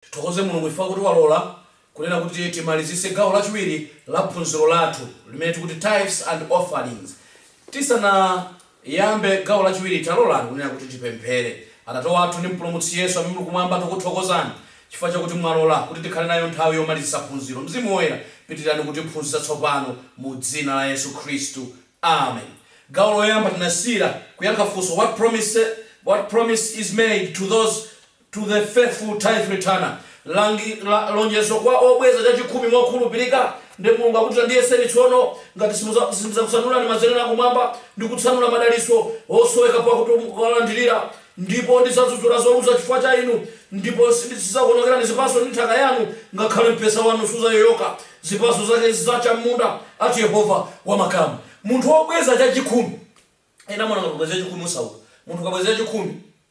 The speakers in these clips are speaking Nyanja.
Tithokoze Mulungu chifukwa kuti walola kunena kuti timalizitse gawo lachiwiri la phunziro lathu limene tikuti Tithes and Offerings. Tisana. Iyambe, Gawo Lachiwiri, Talolani kunena kuti tipemphere. Atate wathu ndi Mpulumutsi Yesu amene muli kumwamba, tikuthokozani chifukwa chakuti mwalola kuti tikhale nayo nthawi yomalizitsa phunziro. Mzimu Woyera, pitirirani kutiphunzitsa tsopano mu dzina la Yesu Khristu. Amen. Gawo loyamba tinasiyira kuyankha funso What promise is made to those to the faithful tithe returner, lonjezo kwa obweza chachikhumi mokhulupirika, ndi Mulungu akuti ndiyeseni tsono ngati simudza- sindidzakutsanulirani mazenera akumwamba ndi kutsanula madalitso osoweka pakuti mukawalandirira, ndipo ndidzadzudzula zolusa chifukwa cha inu, ndipo sindi- sidzakuonongerani zipatso ndi nthaka yanu, ngakhale mpesa wanu sudzayoyoka zipatso zake zidzacha m'munda, ati Yehova wa makamu. Munthu wobweza chachikhumi, ena amaona ngati kubweza chachikhumi usauka, munthu ukabweza chachikhumi,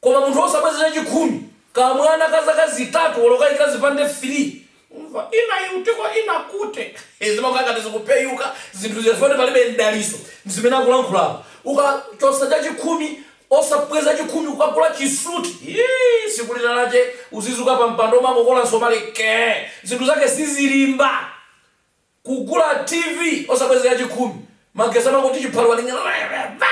Koma munthu osabweza chachikhumi ka mwana ka zaka zitatu olo kaika zipande 3 umve ina iutiko ina kute hee zimakhala ngati zikupeyuka zinthu zija chifukwa kuti palibe mdaliso mzimene akulankhula apa. Ukachotsa chachikhumi osabweza chachikhumi ukagula chisuit hii siku lina lache uzidutsa pa mpando umangokola msomali kee zinthu zake sizilimba. Kugula TV osabweza chachikhumi, magesi amangoti chiphaliwali nyalalayamayamba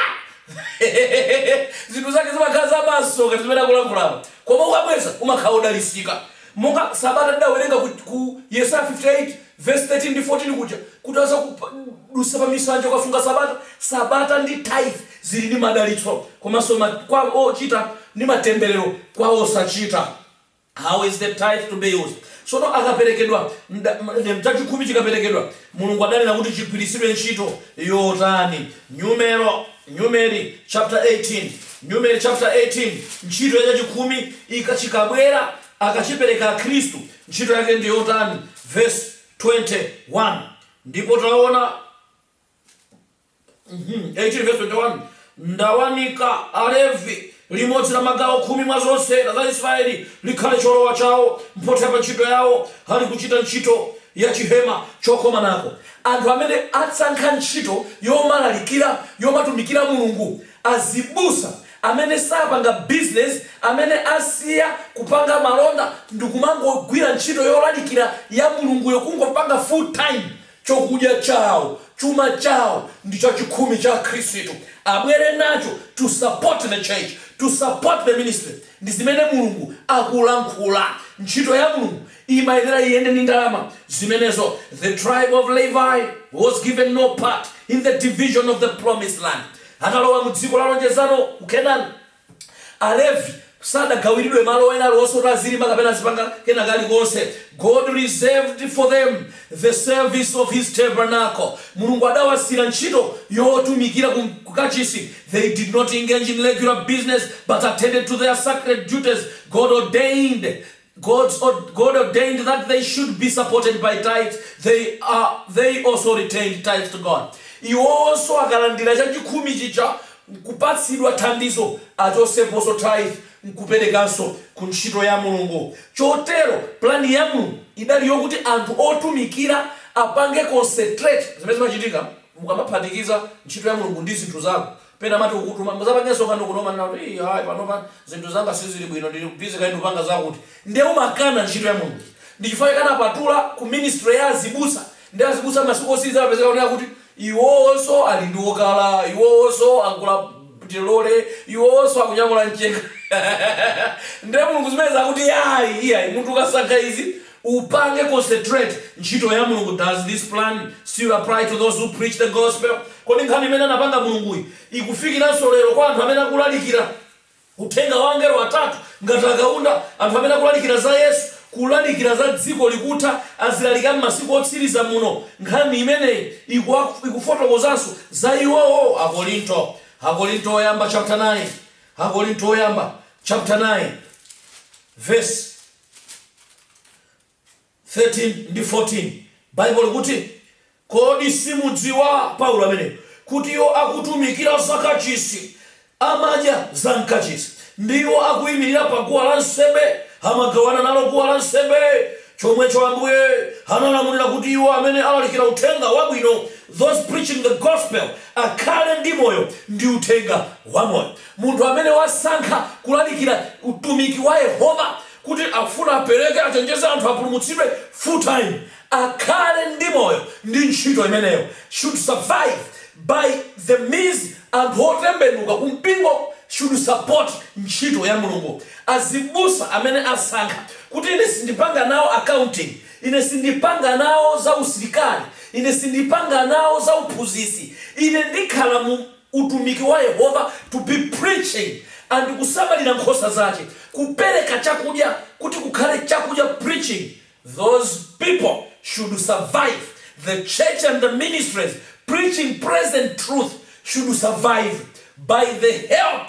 zinthu zake zimakhala za maso ngati zimene akulankhula apa koma ukabweza umakhala odalitsika monga sabata tidawerenga ku, ku Yesaya 58 verse 13 ndi 14 kuja kuti adzakudutsa pa misanje ukasunga sabata sabata ndi tithe zili ndi madalitso komanso ma, kwa ochita ndi matemberero kwa osachita How is the tithe to be used? Tsono akaperekedwa, chachikhumi chikaperekedwa, Mulungu adanena kuti chigwiritsidwe ntchito yotani? Numero, Numeri chapter 18, Numeri chapter 18, ntchito ya chachikhumi ika, chikabwera, akachipereka Akhristu, ntchito yake ndi yotani? Verse 21, Ndipo taona, Mhm, 18 verse 21 ndawaninkha Alevi limodzi la magawo khumi mwa zonse la za Israeli likhale cholowa chawo mphotho pa ntchito yawo ali kuchita ntchito ya chihema chokomanako anthu amene asankha ntchito yomalalikira yomatumikira Mulungu azibusa amene sapanga bizinesi amene asiya kupanga malonda ndikumangogwira ntchito yolalikira ya Mulunguyo kungopanga full time Chokudya chawo, chuma chawo ndi chachikhumi cha akhristu abwere nacho to support the church, to support the ministry ndizimene Mulungu akulankhula. Ntchito ya Mulungu imayenera iyende ndi ndalama zimenezo. The tribe of Levi was given no part in the division of the promised land atalowa mu dziko la lonjezano ku Canaan. Alevi sadagawiridwe malo ena aliwonse oti azilima kapena azipanga kena kalikonse. God reserved for them the service of His tabernacle. Mulungu adawasiyira ntchito yotumikira ku kachisi. They did not engage in regular business, but attended to their sacred duties God ordained God ordained that they should be supported by tithes, they also returned tithes to God. Iwonso akalandira chachikhumi chija nkupatsidwa thandizo, achotseponso tithe nkuperekanso ku ntchito ya Mulungu. Chotero plan ya Mulungu idali yokuti anthu otumikira apange concentrate zimene zimachitika mukamaphatikiza ntchito ya Mulungu ndi zinthu zako Pena amati kukutuma muzapange msonkhano kuno umanena kuti iih ayi panopa zinthu zanga sizili bwino ndili busy kaye ndupanga zakuti nde umakana ntchito ya Mulungu ija. Ndi chifukwa chake anapatula ku ministry ya azibusa nde azibusa masiku otsiliza amapezeka kuti akuti iwonso ali ndi wokala, iwonso agula lole, iwonso akunyamula mchenga nde Mulungu zimenezi akuti ayi iyayi munthu ukasankha izi Upange concentrate ntchito ya Mulungu Does this plan still apply to those who preach the gospel? Kodi nkhani imene anapanga Mulunguyi ikufikiranso lero kwa anthu amene akulalikira Uthenga wa angelo atatu ngati a Kaunda, anthu amene akulalikira za Yesu, kulalikira za dziko likutha, azilaliki a m'masiku otsiriza muno? Nkhani imeneyi ikufotokozanso za iwowo Akorinto Woyamba chapter 9 Akorinto Woyamba chapter 9 verse. 13 ndi 14 baibulo likuti kodi simudziwa paulo ameneyo kuti iwo akutumikira za kachisi amadya za mkachisi ndi iwo akuyimirira pa guwa la nsembe amagawana nalo guwa la nsembe chomwecho ambuye analamulira kuti iwo amene alalikira uthenga wabwino those preaching the gospel akhale ndi moyo ndi uthenga wamoyo Munthu amene wasankha kulalikira utumiki wa Yehova kuti afuna apereke, achenjeze anthu apulumutsidwe full time, akhale ndi moyo ndi ntchito imeneyo should survive by the means anthu otembenuka ku mpingo should support ntchito ya Mulungu. Azibusa amene asankha kuti ine sindipanga nawo accounting, ine sindipanga nawo za usilikali, ine sindipanga nawo za uphunzitsi, ine ndikhala mu. utumiki wa Yehova to be preaching and kusamalira nkhosa zache, kupereka chakudya kuti kukhale chakudya preaching those people should survive, the church and the ministries preaching present truth should survive by the help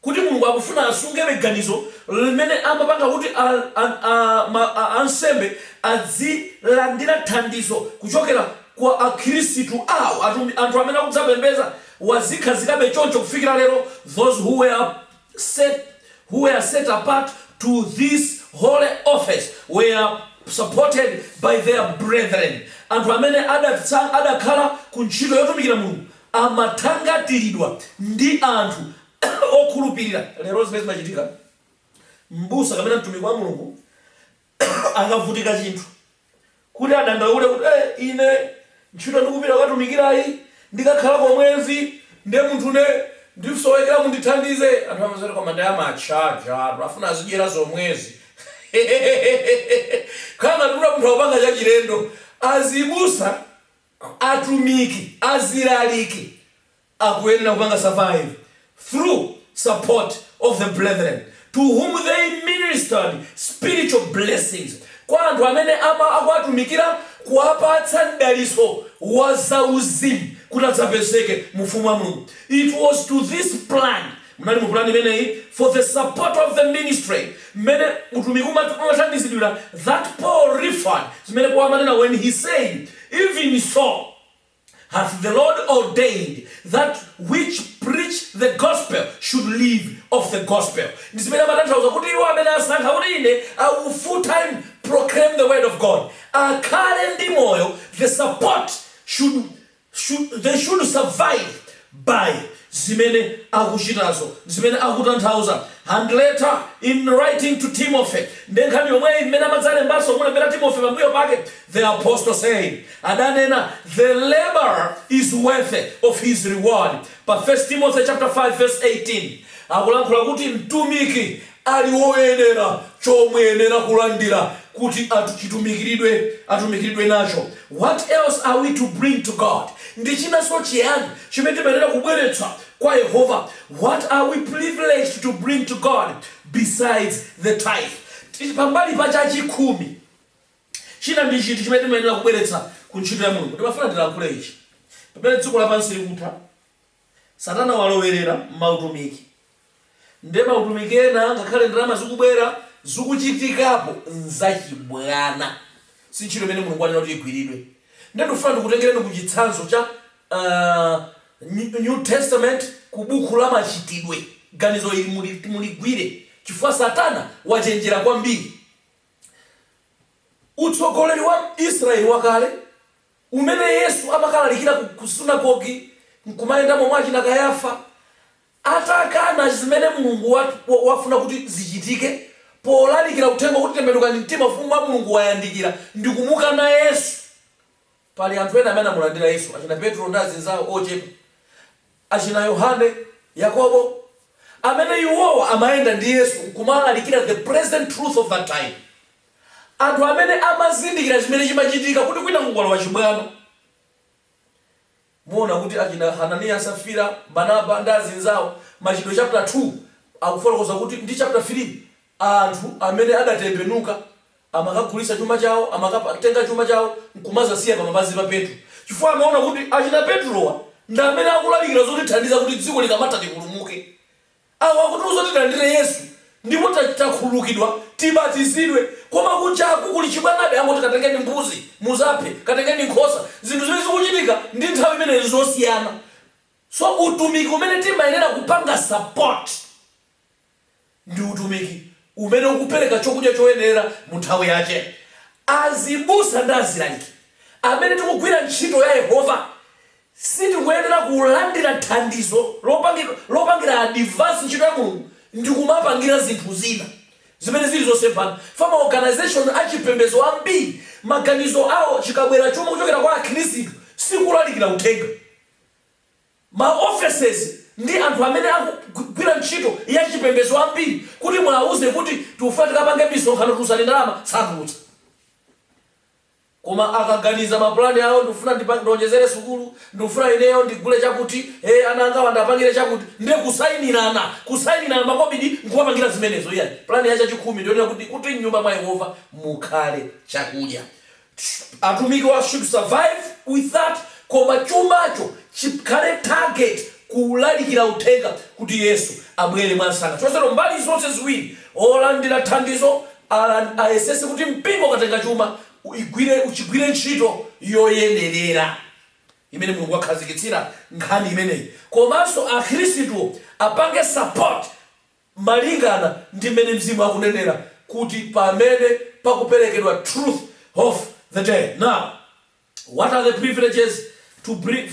kuti Mulungu akufuna asungebe ganizo limene amapanga kuti a, a, a, ma, a, ansembe adzilandira thandizo kuchokera kwa akhirisitu awo anthu amene akudzapembeza wazikhazikabe choncho kufikira lero those who were set who were set apart to this holy office were supported by their brethren anthu amene adatsa, adakhala ku ntchito yotumikira Mulungu amathangatiridwa ndi anthu okhulupirira. Lero zimene zimachitika, m'busa kapena mtumiki wa Mulungu akavutika chinthu, kuti adandaule kuti, ee, ine ntchito ndikupita kukatumikirayi ndikakhala kwa mwezi ndiye munthune ndisowekera mundithandize, anthu amati koma ndiye amatchajatu, afuna azidyera zomwezi, hehehehe! Kukhala ngati kuti munthu akupanga chachilendo. Azibusa Atumiki, azilaliki akuyenera kupanga survive through support of the brethren to whom they ministered spiritual blessings, kwa anthu amene ama akuwatumikira kuwapatsa mdalitso wa zauzimu kuti adzapezeke mu Ufumu wa Mulungu. It was to this plan Munali mu pulani imeneyi for the support of the ministry mmene utumiki umat umathandizidwira that Paul referred zimene Paul amanena when he said, Even so hath the Lord ordained that which preach the gospel should live of the gospel. Ndi zimene amatanthauza kuti iwo amene asankha kuti ine I will full time proclaim the word of God akhale ndi moyo the support should should, they should survive by zimene akuchitazo zimene akutanthauza and later in writing to timothy nde nkhani yomweyi mmene amadzalembanso kumulembera timothy pambuyo pake the apostle said adanena the laborer is worthy of his reward pa 1 timothy chapter 5 verse 18 akulankhula kuti mtumiki ali woyenera chomuyenera kulandira kuti atuchitumikiridwe atumikiridwe nacho What else are we to bring to God? Ndi chinanso chiyani chimene timayenera kubweretsa kwa Yehova What are we privileged to bring to God besides the tithe? Ti- Pambali pa chachikhumi china ndi chiti chimene timayenera kubweretsa ku ntchito ya mulungu ndimafuna ndilankhule ichi pamene dziko lapansi likutha Satana walowerera mautumiki nde mautumiki ena ngakhale ndalama zikubwera zikuchitikapo nzachibwana si ntchito imene Mulungu wanena kuti igwiridwe nde ndikufuna ndikutengereni ku chitsanzo cha New Testament ku bukhu la Machitidwe ganizo ili muligwire chifukwa Satana wachenjera kwambiri utsogoleri wa Israel wakale umene Yesu amakalalikira ku sunagogi n'kumayendamo mwa achina Kayafa atakana zimene Mulungu wafuna kuti zichitike polalikira uthenga kuti tembenukani mtima ufumu wa Mulungu wayandikira ndikumukana Yesu. Pali anthu ena amene anamulandira Yesu, achina Petro ndi azinzawo ochepa, achina Yohane, Yakobo, amene iwowa amayenda ndi Yesu n'kumalalikira the present truth of that time. Anthu amene amazindikira chimene chimachitika kuti kwina kukulowa chibwana, muona kuti achina Hananiya, Safira, Barnaba ndi azinzawo, Machitidwe chaputala 2 akufotokoza kuti ndi chaputala 3, anthu amene adatembenuka amakagulitsa chuma chawo, amakatenga chuma chawo nkumazasiya pamapazi pa Petro chifukwa amaona kuti achina Petrowa ndi amene akulalikira zotithandiza kuti dziko likamatha tipulumuke. Awa akutiuza kuti tilandire Yesu ndipo takhululukidwa tibatizidwe koma kujaku kuli chibwanabe angoti katengeni mbuzi muzaphe, katengeni nkhosa. Zinthu zimene zikuchitika ndi nthawi imeneyi nzosiyana so utumiki umene timayenera kupanga support ndi utumiki umene ukupereka chokudya choyenera mu nthawi yache. Azibusa ndi azilaliki amene tikugwira ntchito ya Yehova Sitikuyenera kulandira thandizo lopangira advance ntchito ya Mulungu ndi kumapangira zinthu zina zimene zili zosemphana. Chifukwa ma organization a chipembedzo ambiri maganizo awo chikabwera chuma kuchokera kwa akhristu sikulalikira uthenga. Ma offices ndi anthu amene akugwira ntchito ya chipembedzo ambiri kuti muauze kuti tikufuna tikapange misonkhano tulutsani ndalama, satulutsa. Koma akaganiza ma plan awo ndikufuna ndionjezere sukulu, ndikufuna ineyo ndigule chakuti, ee ana angawa ndiwapangire chakuti, nde kusainirana, kusainirana makobidi nkumapangira zimenezo iyayi. Plan ya chachikhumi ndiyonena kuti kuti mnyumba mwa Yehova mukhale chakudya. Atumikiwa should survive with that koma chumacho chikhale target kulalikira uthenga kuti Yesu abwere mwamsanga. Chotero mbali zonse ziwiri Olandira thandizo ayesetse kuti mpingo ukatenga chuma chigwire ntchito yoyenerera imene Mulungu wakhazikitsira nkhani imeneyi komanso akhristuwo apange support malingana ndi mmene mzimu akunenera kuti pamene pakuperekedwa Truth of the Day. Now. what are the privileges to bring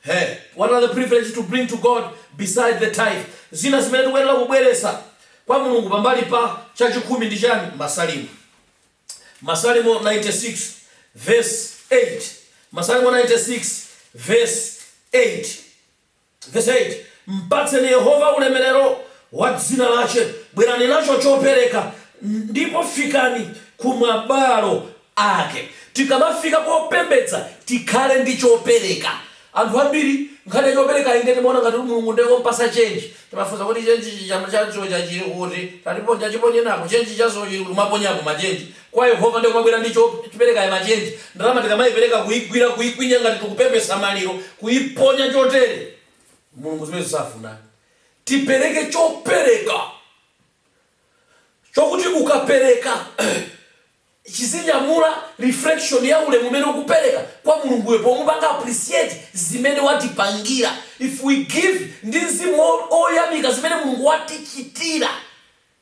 hey, what are the privileges to bring to god beside the tithe zina zimene tikuyenera kubweretsa kwa mulungu pambali pa chakhumi ndi chani masalimo masalimo 96 verse 8 masalimo 96 verse 8 Vesi 8, Mpatseni Yehova ulemelelo wa dzina lace, bwelani naco copeleka, ndipo fikani ku mabwalo ake. Tikamafika kopembedza tikhale ndi copeleka. Anthu ambili nkhani ya copelekayi ndiye timaona ngati Mulungu ndiye wompatsa cenji. Timafunsa kuti, Cenji cija ca dzulo cili kuti? Tatiponya, taciponye nako. Cenji ca dzulo cili kuti? Kumaponyapo macenji. kwa Yehova nde kumabwera ndi chopereka ya ma change, ndalama tikamaipereka kuigwira kuikwinya ngati tikupepesa maliro kuiponya chotere Mulungu zimenezo safuna. Tipereke chopereka chokuti ukapereka chizinyamula reflection ya ulemu umene ukupereka kwa Mulunguyo pomupanga appreciate zimene watipangira. If we give ndi mzimu oyamika zimene Mulungu watichitira,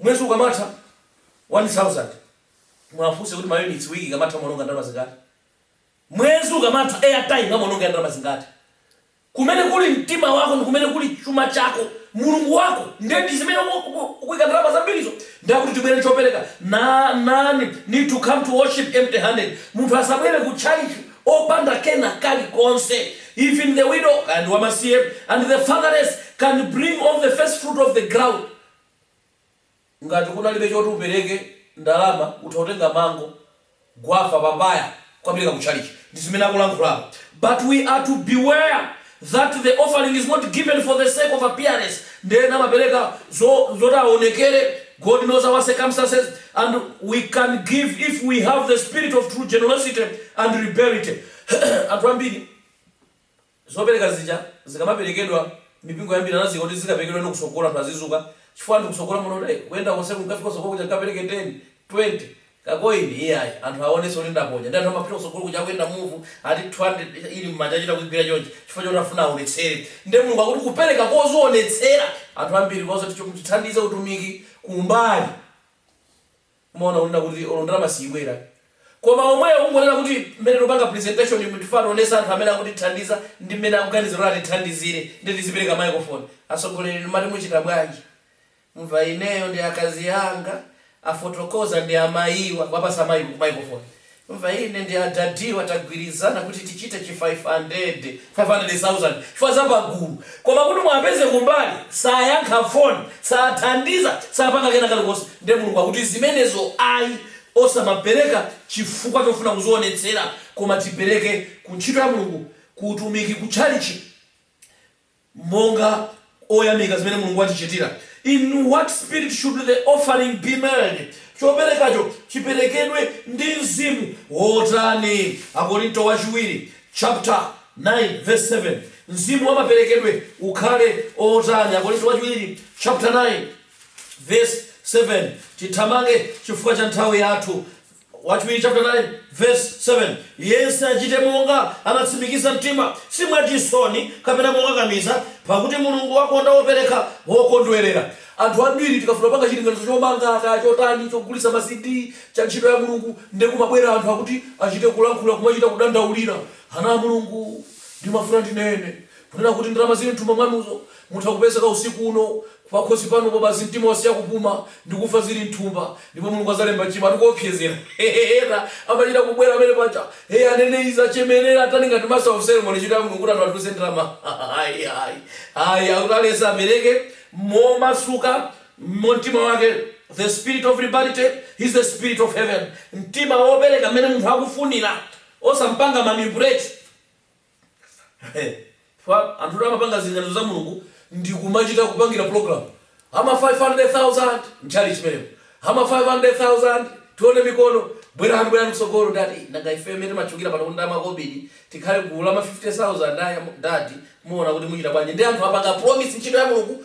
Mwezi ukamatha 1000 muwafunse kuti maunitsi week ikamatha amaononga ndalama zingati? Mwezi ukamatha airtime amaonongera ndalama zingati? Kumene kuli mtima wako ndikumene kuli chuma chako, Mulungu wako ndiye ndizimene ukuika ndalama zambirizo. Ndiye akuti tibwere chopereka none need to come to worship empty handed munthu asabwere ku tchalitchi opanda kena kali konse even the widow kaya ndi wamasiye and the fatherless can bring of the first fruit of the ground. Ngati kunalibe choti upereke, ndalama, utha kutenga mango, guafa, papaya, kukapereka ku tchalitchi. Ndi zimene akulankhulapo. But we are to beware that the offering is not given for the sake of appearance nde ena amapereka zoti awonekere God knows our circumstances and we can give if we have the spirit of true generosity and liberality. Anthu ambiri. Zopereka zija zikamaperekedwa, mipingo yambiri anaziyika kuti zikaperekedwe ndi kutsogolo anthu azidzuka chifukwa anthu kutsogolo muno nde kuyenda konseku mkafika kutsogolo kuja mkapereke 10, 20 Ka coin iyayi anthu awonetse kuti ndaponya nde anthu amapita kutsogolo kuja akuyenda move ati 200 ili mmanja achita kuyigwira chonchi chifukwa choti afuna awonetsere nde Mulungu akuti kupereka kozionetsera anthu ambiri kozoti chonchi tithandize utumiki kumbali Umaona kunena kuti olo ndalama siibwera koma omweyo kungonena kuti mmene tikupanga presentation mu tifuna tionese anthu amene akutithandiza ndi mmene akuganiza kuti atithandizire nde tizipereka microphone. Atsogoleri inu mmati muchita bwanji? Mumva ineyo ndi akazi anga afotokoza ndi amayiwa kuwapatsa microphone. Umva ine ndi a dadi wa tagwirizana kuti tichite chi 500, 500,000 chifukwa za pagulu koma kuti muwapeze kumbali sayankha phone, sathandiza, sapanga kena kalikonse nde Mulungu akuti zimenezo ayi osamapereka chifukwa chofuna kuzionetsera koma tipereke ku ntchito ya Mulungu ku utumiki ku tchalitchi. monga oyamika zimene Mulungu watichitira. In what spirit should the offering be made? Choperekacho chiperekedwe ndi mzimu wotani? Akorinto Wachiwiri chaputala 9 vesi 7 Mzimu wa maperekedwe ukhale otani? Akorinto Wachiwiri chaputala 9 vesi 7 Tithamange chifukwa cha nthawi yathu. Wachiwiri chaputala 9 vesi 7 Yense achite monga anatsimikiza mtima, si mwa chisoni kapena mokakamiza, pakuti Mulungu akonda wopereka wokondwerera. Anthu ambiri tikafuna panga chilinganizo chomanga kaya chotani, chogulitsa ma CD, cha ntchito ya Mulungu, nde kumabwera anthu akuti achite kulankhula kumachita kudandaulira ana a Mulungu. Ndimafuna ndinene, kunena kuti ndalama zili mthumba mwanuzo, mutha kupezeka usiku uno pakhosi pano basi mtima wasiya kupuma ndi kufa zili mthumba ndipo mulungu azalemba chimo ndikuopsezera hehe ena amachita kubwera amene paja hey aneneri achemerera atani ngati master of ceremony ntchito ya mulungu kuti anthu atuluse ndalama ayi ayi ayi akuti aliyense apereke momasuka mu mtima wake the spirit of liberality is the spirit of heaven mtima wopereka mmene munthu akufunira osampanga manipulate Chifukwa anthutu amapanga zilinganizo za Mulungu ndi kumachita kupangira pulogalamu. Ha ma 500,000 m'tchalitchi mmenemo, ha ma 500,000 tione mikono, bwerani, bwerani kutsogolo, Dad, eyi, nanga ifeyo mmene timatchukira pano kuti ndi a makobidi, tikhale gulu la ma 50,000 a ya, Dad, muona kuti muchita bwanji ndi anthu kupanga promise ntchito ya Mulungu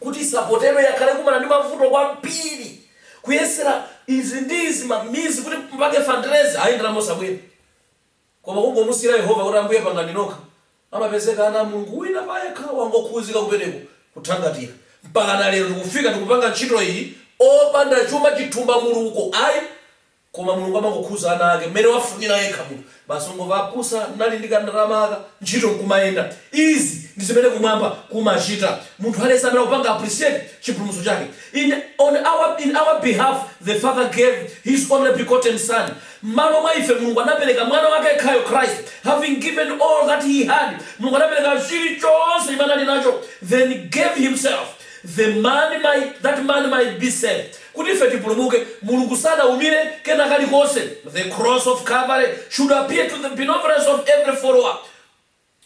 kuti isapotero yakhala ikukumana ndi mavuto kwambiri kuyesera izi ndi izi ma means kuti tipange fundraise ayi ndalama osabwera koma kungomusiyira Yehova kuti ambuye pangani nokha amapezeka ana a Mulungu wina payekha wangokhuzika kupereka kuthangatira mpakana lero tikufika tikupanga ntchito iyi opanda chuma chithumba kuliko ayi koma mulungu amangokhuza ana ake mmene wafunila yekha munthu basi ungomva abusa ndili ndi kandalama aka ntchito nkumayenda izi ndi zimene kumwamba kumachita munthu aliyese amene akupanga appreciate chipulumutso chake in on our in our behalf the father gave his only begotten son mmalo mwa ife mulungu anapeleka mwana wake yekhayo christ having given all that he had mulungu anapeleka chilichonse chimene anali nacho then gave himself that man might that man might be saved Kuti ife tipulumuke, Mulungu sanaumire kena kalikonse, The Cross of Calvary should appeal to the benevolence of every follower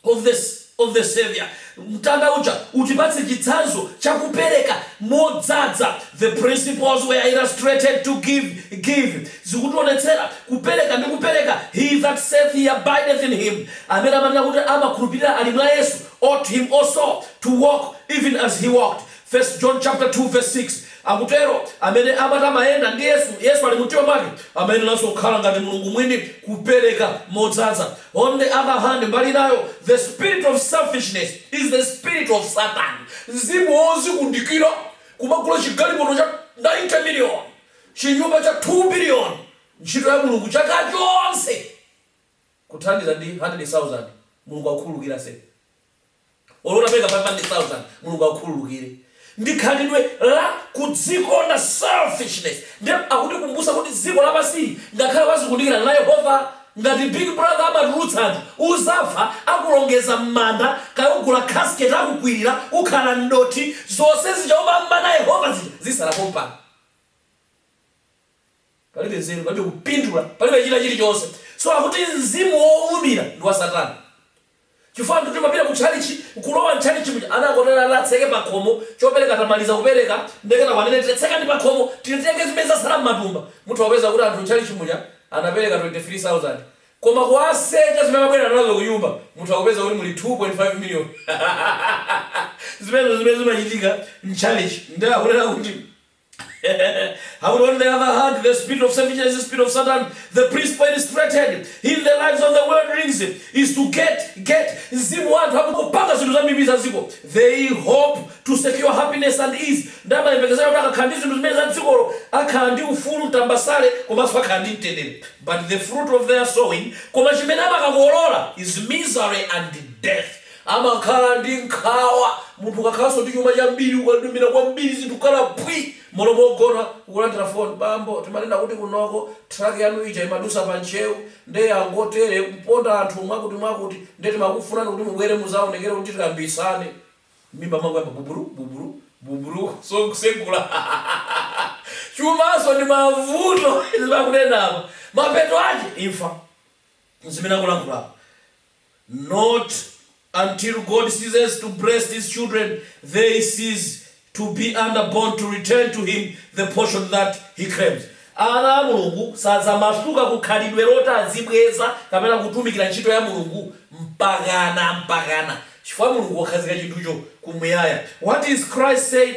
of the of the Savior, Mtanda uja utipatse chitsanzo cha kupereka modzadza, The principle there illustrated is to give give zikutionetsera kupereka ndi kupereka, He that saith he abideth in Him, amene amanena kuti amakhulupirira ali mwa Yesu, ought him also to walk even as He walked, First John chapter 2 verse 6 akutero amene amati amayenda ndi Yesu, Yesu ali mu mtima mwake, amayeneranso kukhala ngati Mulungu Mwini, kupereka modzadza. On the other hand, mbali inayo, the spirit of selfishness is the spirit of Satan, mzimu wozikundikira, kumagula chigalimoto cha 90 million, chinyumba cha 2 billion, ntchito ya Mulungu chaka chonse kuthandiza ndi 100,000, Mulungu akukhululukire ase. Olo utapereka 500,000 Mulungu akukhululukire. Ndi khalidwe la kudzikonda, selfishness. Ndiye akutikumbutsa kuti dziko lapansili ngakhale wazikundikira, Yehova ngati big brother amatulutsa anthu uzafa akulongeza mmanda kaya ugula casket akukwirira ukhala mdothi zonse zija umam'mana Yehova zija zisala pompano. Palibe nzeru, palibe kupindula, palibe china chilichonse. So akuti mzimu wowumira ndi wa satana. Chifukwa anthu timapita ku tchalitchi, nkulowa m'tchalitchi muja, anakotero anatseke pakhomo, chopereka tamaliza kupereka, nde kenako anene kuti tsekani pakhomo, titenge zimene zatsala m'matumba. Mutha kupeza kuti anthu m'tchalitchi muja anapereka 23,000. Koma kuwasecha zimene anabwera nazo kunyumba, mutha kupeza kuti muli 2.5 million. Zimenezo ndi zimene zimachitika m'tchalitchi. Nde akunena kuti. However, on the other hand, the spirit of selfishness is the spirit of Satan, the principle illustrated in the lives of worldlings is to get, get, mzimu wa anthu akupanga zinthu zam'mbali za dziko. They hope to secure happiness and ease. Ndi amayembekezera kuti akakhala ndi zinthu zimene za dzikolo akhala ndi ufulu tambasale komanso akhala ndi mtendere. But the fruit of their sowing, koma chimene amakakolola is misery and death. Amakhala ndi nkhawa. Munthu ukakhalanso ndi chuma chambiri, ukadunira kwambiri zinthu kukhala phwi m'malo mogona, ukulandira foni, Bambo, timanena kuti kunoko truck yanu ija imadusa pa Ntcheu nde yangotere kuponda anthu mwakutimwakuti nde timakufunani kuti mubwere muzaonekere kuti tikambitsane. M'mimba mwangoyamba buburu, buburu, buburu, kusegula. Chumanso ndi mavuto, zimene akunena apa, mapeto ake imfa. Nzimene akulankhula apa. not until God ceases to bless his children they cease to be under bonds to return to him the portion that he claims ana a Mulungu sadzamasuka ku khalidwe loti azibweza kapena kutumikira ntchito ya Mulungu mpakana mpakana chifukwa Mulungu wakhazika chinthucho kumuyaya what is Christ said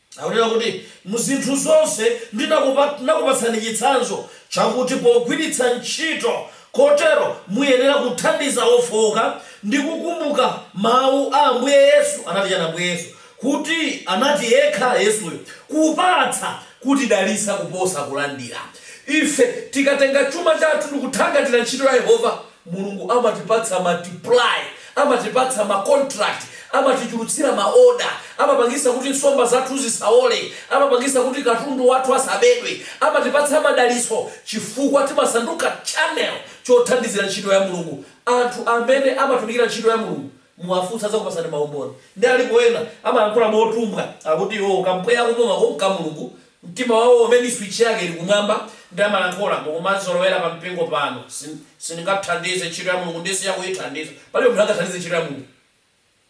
Akunena kuti, Mu zinthu zonse ndinakupatsani chitsanzo chakuti pogwiritsa ntchito kotero muyenera kuthandiza ofooka ndi kukumbuka mawu a Ambuye Yesu. Anati chani Ambuye Yesu? Kuti anati yekha Yesuyo, Kupatsa kutidalitsa kuposa kulandira. Ife tikatenga chuma chathu ndikuthangatira ntchito ya Yehova, Mulungu amatipatsa multiply, amatipatsa ma contract, amatichulutsira ma order, amapangisa kuti nsomba zathu zisaole, amapangisa kuti katundu wathu asabedwe, amatipatsa madalitso chifukwa timasanduka channel chothandizira ntchito ya Mulungu. Anthu amene amatumikira ntchito ya Mulungu muwafunse adzakupasani maumboni. Nde alipo ena amayankhula motumbwa akuti iwowo kampweya akupumako nka Mulungu Mtima wawo umene switch yake ili kumwamba nde amalankhula, mukumandizolowera pa mpingo pano, sin, sindingathandize ntchito ya Mulungu nde siya kuyithandiza, palibe munthu angathandize ntchito ya Mulungu.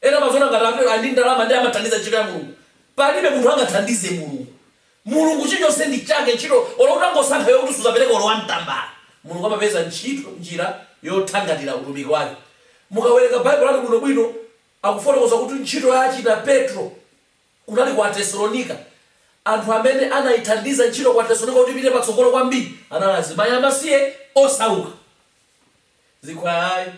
Ena amaziona ngati atero ali ndi ndalama nde amathandiza ntchito ya Mulungu, palibe munthu angathandize Mulungu. Mulungu chilichonse ndi chake, ntchito, olo utangosankha iwe kuti suzapereka olo one tambala, Mulungu amapeza ntchito, njira yothangatira utumiki wake. Mukawerenga Bible lanu bwinobwino, akufotokoza kuti ntchito ya achina Petro, kunali ku Atesalonika. Anthu amene anaithandiza ntchito ku Atesalonika kuti ipite patsogolo kwambiri anali azimayi amasiye osauka. Zikhwaya ayi.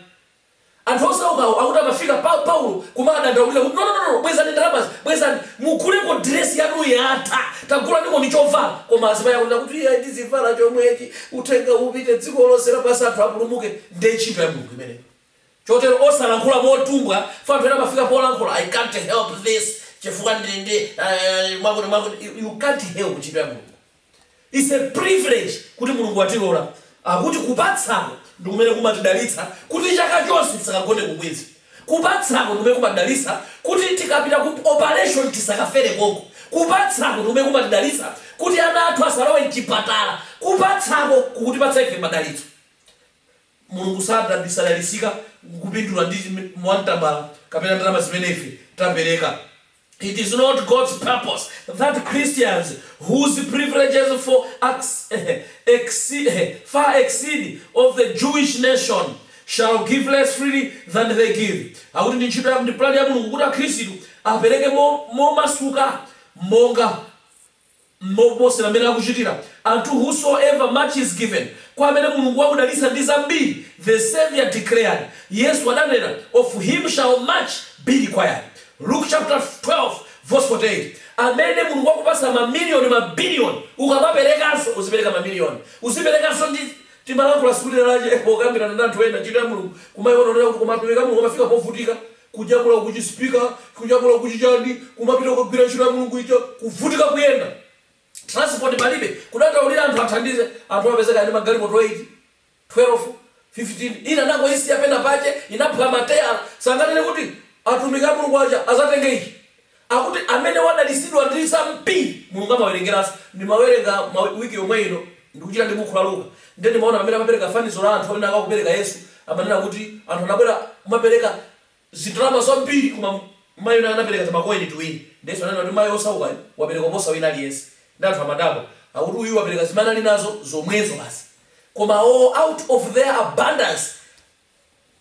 Anthu osaukawo akuti amafika pa Paulo kumadandaulira kuti, Nononono! Bwezani ndalamazi! Bwezani! Muguleko diresi yanu yatha! Tagulanikoni chovala! Koma azimayi akunena kuti, Iyayi tizivala chomwechi! Uthenga upite dziko lonse lapansi anthu apulumuke! Ndiye ntchito ya Mulungu imeneyo. Chotero osalankhula motumbwa, chifukwa anthu ena amafika polankhula, I can't help this chifukwa ndili ndi uh, mwakuti mwakuti. You, you can't help ntchito ya Mulungu. It's a privilege kuti Mulungu watilola akuti kupatsako ndikumene kumatidalitsa kuti chaka chonse tisakagone ku Queens. Kupatsako ndikumene kumatidalitsa kuti tikapita ku operation tisakafere konko. Kupatsako ndikumene kumatidalitsa kuti ana athu asalowe mchipatala. Kupatsako kukutipatsa ife madalitso. Mulungu sadali sadalitsika kupindula ndi ma one tambala kapena ndalama zimene ife tapereka It is not God's purpose that Christians whose privileges far exceed of the Jewish nation shall give less freely than they give akuti ndi ntchito ya ndi pulani ya Mulungu kuti Akhristu apereke mo momasuka monga M'mene kuposera m'mene akuchitira Unto whosoever much is given, kwa amene Mulungu wakudalitsa ndi zambiri, the Savior declared, Yesu adanena, of him shall much be required. Luke chaputala 12 vesi 48 Amene Mulungu wakupatsa ma miliyoni ma biliyoni, ukamaperekanso uzipereka ma miliyoni. Uziperekanso ndi Timalankhula tsiku lina lache pokambirana ndi anthu ena, ntchito ya Mulungu kumaiona kunena kuti koma atumiki a Mulungu amafika povutika Kujambula uku chi speaker, kujambula uku chi chani, kumapita kukagwira ntchito ya Mulungu ija, kuvutika kuyenda, transport palibe, kudandaulira anthu athandize, anthu amapezeka ndi magalimoto 8, 12, 15, ina anangoisiya pena pake, inaphwa matayala, sanganene kuti atumiki a Mulungu aja azatenge ichi, Akuti amene wadalitsidwa ndi zambiri Mulungu amawerengeranso. Ndimawerenga week yomwe ino ndikuchita ndi bukhu la Luka ndiye ndimaona mmene amapereka fanizo la anthu amene akupereka Yesu amanena kuti anthu anabwera kumapereka zindalama zambiri koma mayi wina anapereka timakoini tiwiri ndiye Yesu ananena kuti mayi wosaukayu wapereka kuposa wina aliyense ndiye anthu amadabwa akuti uyu wapereka zimene anali nazo zomwezo basi koma out of their abundance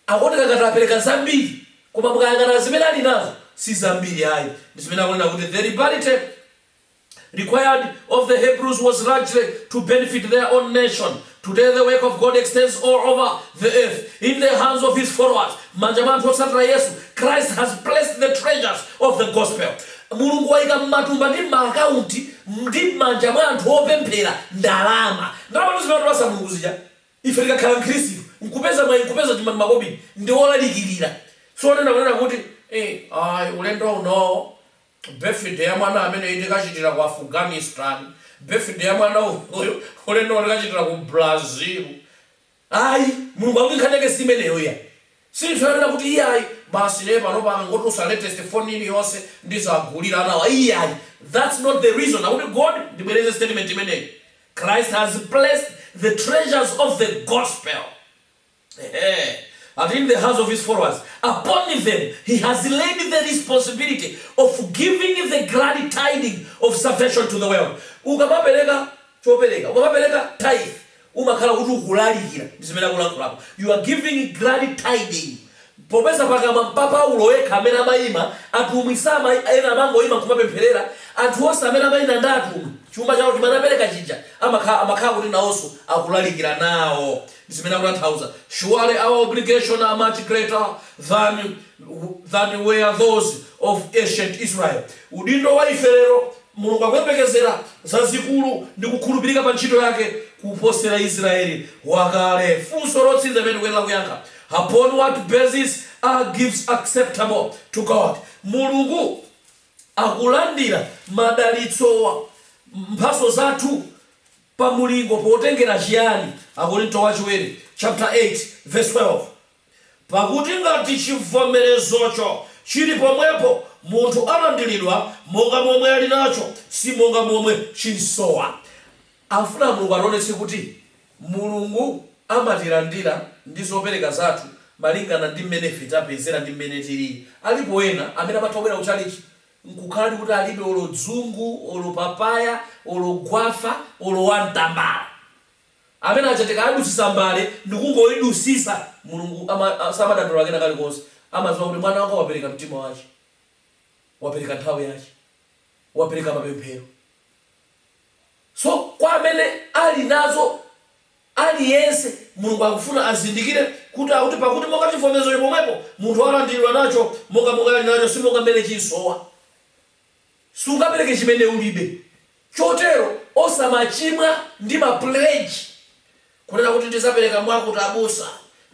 akuoneka ngati apereka zambiri koma mukayang'ana zimene ali nazo si zambiri ayi zimene akunena kuti the liberality required of the Hebrews was largely to benefit their own nation. Today, the work of God extends all over the earth in the hands of his followers. M'manja mwa anthu otsatira Yesu, Christ has placed the treasures of the gospel. Mulungu waika m'matumba ndi m'maakaunti ndi m'manja mwa anthu opemphera ndalama. Ndalama zimene anapatsa Mulungu zija Ife tikakhala Mkhristu, nkupeza mwayi, nkupeza chuma ndi makobidi, ndi olalikirira. Si onena, kunena kuti, Ee, ayi, ulendo uno, birthday ya mwana ameneyu tikachitira ku Afghanistan. Birthday ya mwana uyu, ulendo uno tikachitira ku Brazil. Ayi, Mulungu akuti nkhani yake si imeneyo iyayi. Si zonena kuti, Iyayi, basi ine panopa akangotulutsa latest phone iliyonse, ndizawagulira anawa. Iyayi. That's not the reason. Akuti, God, ndibwereze statement imeneyi. Christ has placed the treasures of the gospel and in the hands of his followers, upon them he has laid the responsibility of giving the glad tiding of salvation to the world ukamapereka chopereka ukamapereka tithe umakhala kuti ukulalikira ndi zimene akulankhulapo you are giving glad tiding Popeza pakamwa pa Paulo yekha amene amaima, atumwi sama, ena amangoima nkumapempherera, anthu onse amene amaina ndi atumwi, chuma chawo chimene anapereka chija amakhala kuti nawonso akulalikira nawo. Ndi zimene akutanthauza surely our obligation are much greater than were those of ancient Israel. Udindo wa ife lero Mulungu akuyembekezera zazikulu ndi kukhulupirika pa ntchito yake kuposera Israeli wakale. Funso lotsiriza limene tikuyenera kuyankha, Upon what basis are gifts acceptable to God? Mulungu akulandira madalitsowa, mphatso zathu, pa mulingo, potengera chiyani? Akorinto Wachiwiri chapter 8 verse 12 Pakuti ngati chivomerezocho chili pomwepo, munthu alandiridwa monga momwe ali nacho, si monga momwe chimsowa. Afuna Mulungu ationetse kuti Mulungu amatilandira ndi zopereka zathu malingana ndi mmene ife tapezera ndi mmene tilili. Alipo ena amene amatha kubwera ku chalichi nkukhaladi kuti alibe olo dzungu olo papaya olo gwafa olo wantambala. Amene aja tikawadutsitsa mbale ndikungoidutsitsa Mulungu ama samadandaula kena kalikonse. Amadziwa kuti mwana wanga wapereka mtima wache, wapereka nthawi yache, wapereka mapemphero. So kwa amene ali nazo, aliyense, Mulungu akufuna azindikire kuti akuti pakuti monga chivomerezo chili pomwepo, munthu alandiridwa nacho, monga monga ali nacho, si monga mmene chimsowa. Sungapereke chimene ulibe. Chotero osamachimwa ndi ma pledge. Kunena kuti ndizapereka mwakuti abusa,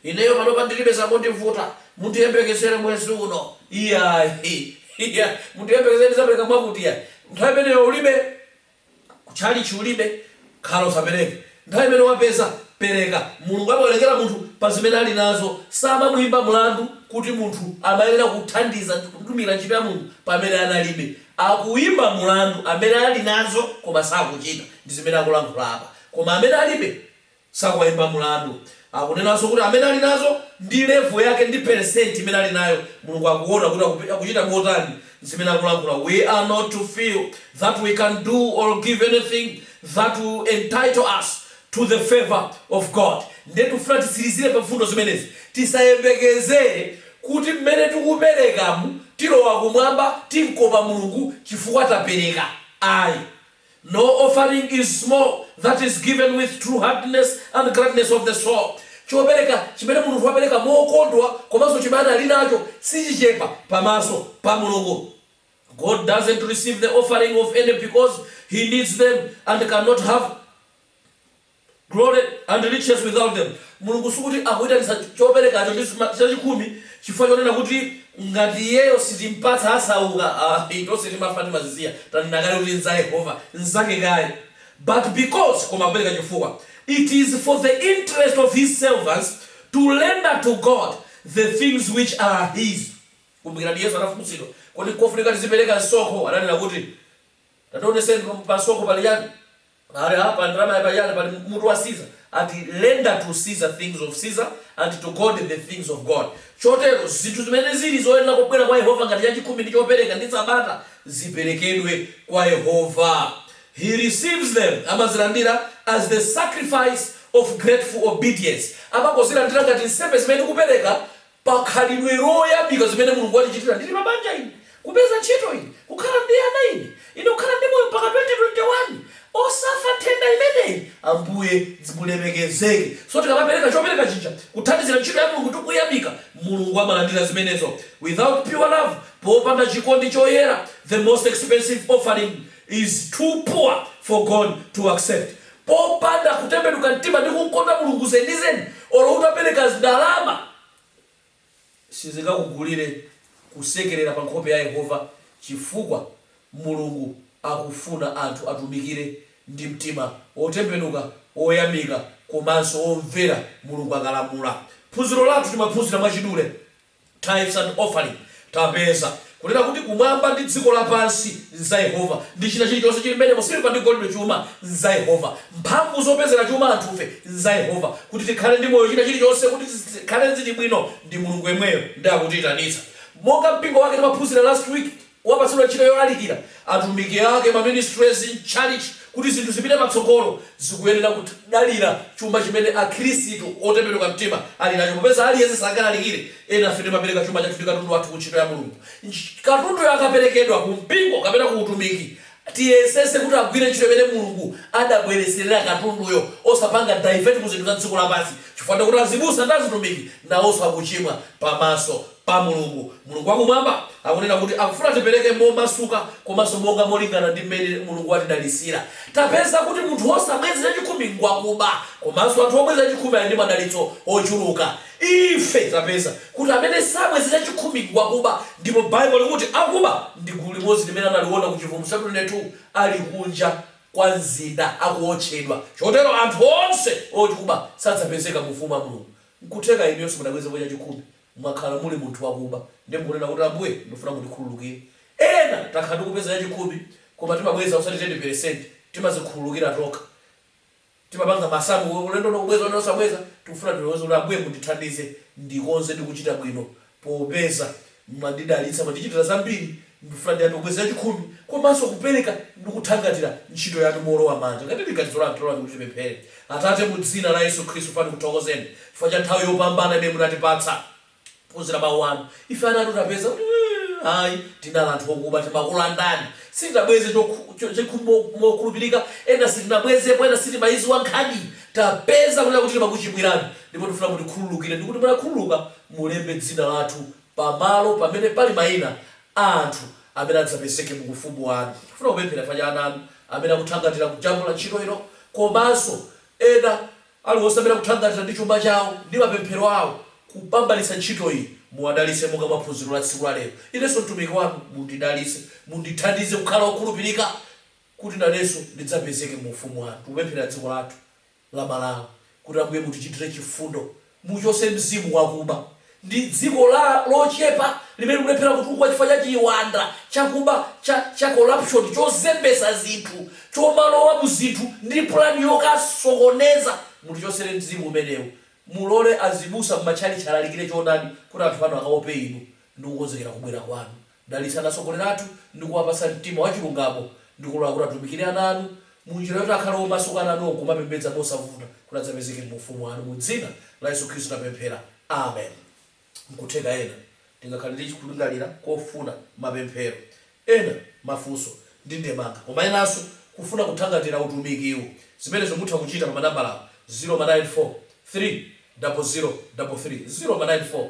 ineyo panopa ndilibe zakundivuta, mundiyembekezere mwezi uno iyayi, iyayi, mundiyembekezere ndizapereka mwakuti iyayi, nthawi imeneyo ulibe, ku tchalitchi ulibe, khala usapereke, nthawi imene wapeza pereka. Mulungu amawerengera munthu pa zimene ali nazo, samamuimba mlandu kuti munthu amayenera kuthandiza ndi kutumikira ntchito ya Mulungu pamene analibe. Akuimba mlandu amene ali nazo koma sakuchita ndi zimene akulankhula apa. Koma amene alibe sakuwaimba mulandu. Akunenanso kuti amene ali nazo ndi level yake ndi percent imene ali nayo Mulungu akuona kuti akuchita motani zimene akulankhula we are not to feel that we can do or give anything that will entitle us to the favour of God nde tikufuna titsirizire pa mfundo zimenezi tisayembekezere kuti mmene tikuperekamu tilowa kumwamba timkopa Mulungu chifukwa tapereka ayi No offering is small that is given with true heartiness and gladness of the soul, Chopereka chimene munthu wapereka mokondwa komanso chimene ali nacho sichichepa pamaso pa Mulungu, God doesn't receive the offering of any because He needs them and cannot have glory, and riches without them. Mulungu sikuti akuitanitsa choperekacho ndi zma- chachikhumi chifukwa chonena kuti ngati iyeyo sitimpatsa asauka, ayi, tonse timafa timazisiya. Tanena kale kuti nza Yehova, nzake kale. But because, koma akupereka chifukwa, it is for the interest of his servants to render to God the things which are his. Kumbukirani Yesu anafunsidwa, kodi nkofunika tizipereka msonkho? Ananena kuti, Tationeseni pa msonkho pali chani? Pali apa ndalamayi pali chani, pali mutu wa Caesar, ati render to Caesar things of Caesar, and to God the things of God. Chotero zinthu zimene zili zoyenera kubwera kwa Yehova ngati chachikhumi ndi chopereka ndi Sabata ziperekedwe kwa Yehova. He receives them, amazilandira, as the sacrifice of grateful obedience, amangozilandira ngati nsembe zimene tikupereka pa khalidwe loyamika zimene Mulungu wandichitira ndili pa banja ine, kupeza ntchito ine, kukhala ndi ana ine, ine kukhala ndi moyo mpaka 2021, osafa nthenda imeneyi, Ambuye mulemekezeke. So tikamapereka chopereka chija kuthandizira ntchito ya Mulungu ndi kuyamika, Mulungu amalandira zimenezo. Without pure love, popanda chikondi choyera, the most expensive offering is too poor for God to accept. popanda kutembenuka mtima ndi kumkonda Mulungu zenizeni, olo utapereka ndalama sizingakugulire kusekerera pa nkhope ya Yehova, chifukwa Mulungu akufuna anthu atumikire ndi mtima wotembenuka, woyamika, komanso womvera Mulungu akalamula. Phunziro lathu timaphunzira mwachidule. Tithes and Offering, Tapeza kunena kuti kumwamba ndi dziko lapansi nza Yehova, ndi china chilichonse chili mmenemo, silver ndi golide chuma nza Yehova, mphamvu zopezera chuma anthufe nza Yehova, kuti tikhale ndi moyo china chilichonse kuti zikhale zili bwino ndi Mulungu yemweyo ndi akutichititsa monga mpingo wake timaphunzira last week. wapatsidwa ntchito yolalikira atumiki ake, ma ministries ndi church kuti zinthu zipite patsogolo zikuyenera kudalira chuma chimene akhristu otembenuka mtima ali nacho popeza aliyense sangalalikire, enafe timapereka chuma chathu ndi katundu wathu ku ntchito ya Mulungu. Katunduyo akaperekedwa ku mpingo kapena ku utumiki tiyesetse kuti agwire ntchito imene Mulungu adabweretserera katunduyo osapanga divert ku zinthu za dziko lapansi chifukwa ndekuti azibusa ndi azitumiki nawonso akuchimwa pamaso pa Mulungu. Mulungu wa Kumwamba akunena kuti akufuna tipereke momasuka komanso monga molingana ndi mmene Mulungu watidalitsira. Tapeza kuti munthu wosabweza chachikhumi ngwakuba komanso anthu obweza chachikhumi ali ndi madalitso ochuluka. Ife tapeza kuti amene sabweza chachikhumi ngwakuba ndipo Bible likuti akuba ndi gulu limodzi limene analiona ku Chivumbulutso chaputala 22 ali kunja kwa mzinda akuotchedwa. Chotero anthu onse okuba sadzapezeka mu Ufumu wa Mulungu. Nkutheka inuyo simunabwezepo chachikhumi mwakhala muli munthu wakuba ndiye mukunena kuti Ambuye ndifuna mundikhululukire. Ena takhala tikubweza chachikhumi koma timabweza osati teni peresenti, timazikhululukira tokha. Timapanga masamu kuti ulendo uno kubweza uno osabweza, tikufuna tilonjeze kuti Ambuye mundithandize ndikonze ndi kuchita bwino popeza mwandidalitsa, mwandichitira zambiri Ndifuna ndiyambe kubweza chachikhumi komanso kupereka ndi kuthangatira ntchito yanu moolowa manja. Ngati ndi ganizo lanu, talolani kuti tipemphere. Atate, mu dzina la Yesu Khristu, poyamba ndikuthokozeni chifukwa cha nthawi yopambana imene munatipatsa kuphunzira mawu anu. Ife ana anu tapeza kuti ayi, tinali anthu okuba, timakulandani. Sitinabweze chachikhumi mokhulupirika, ena sitinabwezepo, ena sitimayiziwa nkhaniyi. Tapeza kunena kuti timakuchimwirani ndipo tikufuna mutikhululukire ndikuti mukakhululuka mulembe dzina lathu pa malo pamene pali maina a anthu amene adzapezeke mu Ufumu wanu. Ndifuna kupemphera chifukwa cha ana anu amene akuthangatira kujambula ntchito ino komanso ena aliwonse amene akuthangatira ndi chuma chawo ndi mapemphero awo kupambalitsa ntchito iyi. Muwadalitse monga mwa phunziro la tsiku la lero. Inenso mtumiki wanu mundidalitse. Mundithandize kukhala wokhulupirika kuti nanenso ndidzapezeke mu Ufumu wanu. Tikupempherera dziko lathu. la Malawi kuti Ambuye mutichitire chifundo mutichose mzimu wakuba ndi dziko lochepa limene likulephera kutukuka chifukwa cha chiwanda chakuba cha corruption chozembesa zinthu chomalowa muzinthu ndi plan yokasokoneza mutichosere mzimu umenewu mulole azibusa mmatchalitchi alalikire choonadi kuti anthu anu akaope inu ndi kukonzekera kubwera kwanu Dalitsani atsogoleri athu ndi kuwapatsa mtima wa chilungamo ndi kulola kuti atumikire ana anu mu njira yoti akhale omasuka ana anu kumapembedza mosavuta kuti adzapezeke mu ufumu wanu. Mu dzina la Yesu Khristu tapemphera. Amen. Nkutheka ena tingakhale ndi kulingalira kofuna mapemphero ena, mafunso ndi ndemanga koma enanso kufuna kuthangatira utumikiwu. Zimenezo mutha kuchita pa manambalawa, 0 ma 9 4 3 double 0 double 3 0 ma 9 4.